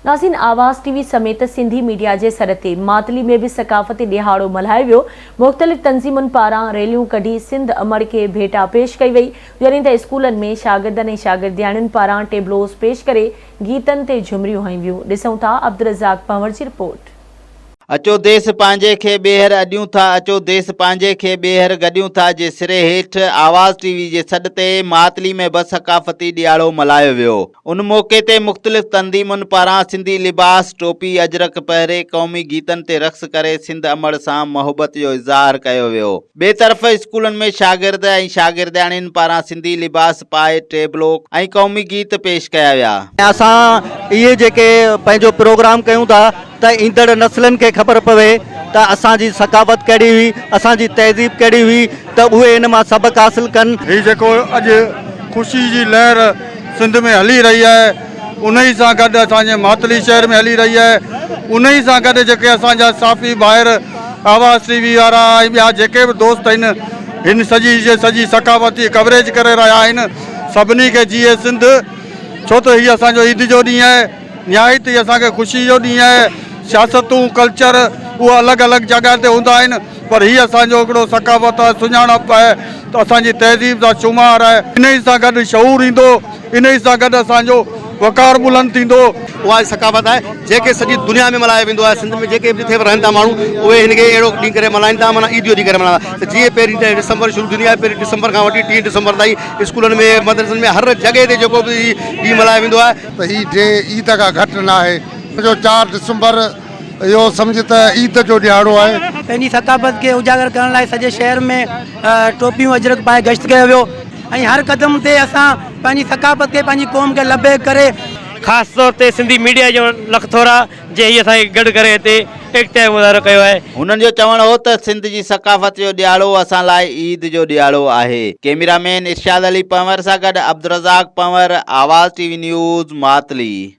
ناظرين Awaz T V سميت Sindhi media جي سڏ تي ماتلي ۾ به ثقافتي ڏيهاڙو ملهايو ويو، مختلف تنظيمن پاران ريليون ڪڍي سنڌ امڙ کي ڀيٽا پيش ڪئي وئي، جڏهن ته اسڪولن ۾ شاگردن ۽ شاگردياڻين پاران ٽيبلوز پيش ڪري گيتن تي جهمريون هنيون ويون، ڏسون ٿا عبدالرزاق پنهور جي رپورٽ. اچو ديس پنهنجي کي ٻيهر اڏيون ٿا اچو ديس پنهنجي کي ٻيهر گڏيون ٿا جي سري هيٺ آواز ٽي وي جي سڏ تي ماتلي ۾ به ثقافتي ڏيهاڙو ملهايو ويو ان موقعي تي مختلف تنظيمن پاران سنڌي لباس ٽوپي اجرڪ پهري قومي گيتن تي رقص ڪري سنڌ امڙ سان محبت جو اظهار ڪيو ويو ٻئي طرف اسڪولن ۾ شاگرد ۽ شاگردياڻين پاران سنڌي لباس پائي ٽيبلو ۽ قومي گيت پيش ڪيا ويا. اسان اهي جيڪي پنهنجو پروگرام ڪيون ٿا ته ايندڙ نسلن کي خبر پوي ته اسان جي ثقافت ڪهڙي هئي، اسان جي تهذيب ڪهڙي هئي ته اهي ان مان سبق حاصل ڪن. هي جيڪو اڄ خوشي جي لهر سنڌ ۾ هلي رهي آهي. انهي سان گڏ اسان جي ماتلي شهر ۾ هلي رهي آهي انهي سان گڏ جيڪي اسان جا صحافي ڀائر آواز ٽي وي وارا ۽ ٻيا جيڪي به دوست آهن هن سڄي جي سڄي ثقافتي ڪوريج ڪري رهيا آهن سڀني کي جيئي سنڌ ڇو ته هي اسان جو عيد جو ڏينهن آهي نهايت ئي اسان کي خوشي جو ڏينهن آهي سياستون ڪلچر اهي الڳ الڳ جڳهه تي هوندا آهن پر هي اسان جو هڪڙو ثقافت آهي سڃاڻپ آهي ته اسان جي تهذيب سان شمار آهي انهي سان گڏ شعور ايندو. انهي سان گڏ اسان جو وقار بلند ٿيندو. اها ئي ثقافت آهي جيڪي سڄي دنيا ۾ ملهايو ويندو آهي سنڌ ۾ جيڪي به جٿي به رهن ٿا ماڻهو اهي هن کي اهڙو ڏينهن ڪري ملهائين ٿا معنيٰ عيد جو ڏينهن ڪري ملهائين ٿا ته جيئن پهرين ته ڊسمبر شروع ٿيندي آهي پهرين ڊسمبر کان وٺي ٽي ڊسمبر تائين اسڪولن ۾ مدرسن ۾ هر جڳهه تي جيڪو به هي ڏينهن ملهايو ويندو آهي ته هي ڊينهن عيد کان گهٽ نه آهي ان جو چار ڊسمبر اهو سمجهه ته عيد جو ڏهاڙو آهي. پنهنجي ثقافت کي اجاگر ڪرڻ لاء سڄي شهر ۾ ٽوپيون اجرڪ پائي گشت ڪيو ويو. ۽ هر قدم تي اسان پنهنجي ثقافت کي پنهنجي قوم کي لبيڪ ڪري. خاص طور تي سنڌي ميڊيا جو لک ٿورا جنهن هي اسان کي گڏ ڪري هتي ايڪتا جو مظاهرو ڪيو آهي. هنن جو چوڻ هو ته سنڌ جي ثقافت جو ڏياڙو اسان لاء عيد جو ڏياڙو آهي. ڪيميرا مين ارشاد علي پنهور سان گڏ Abdulrazzaq Panhwar Awaz T V news Matli.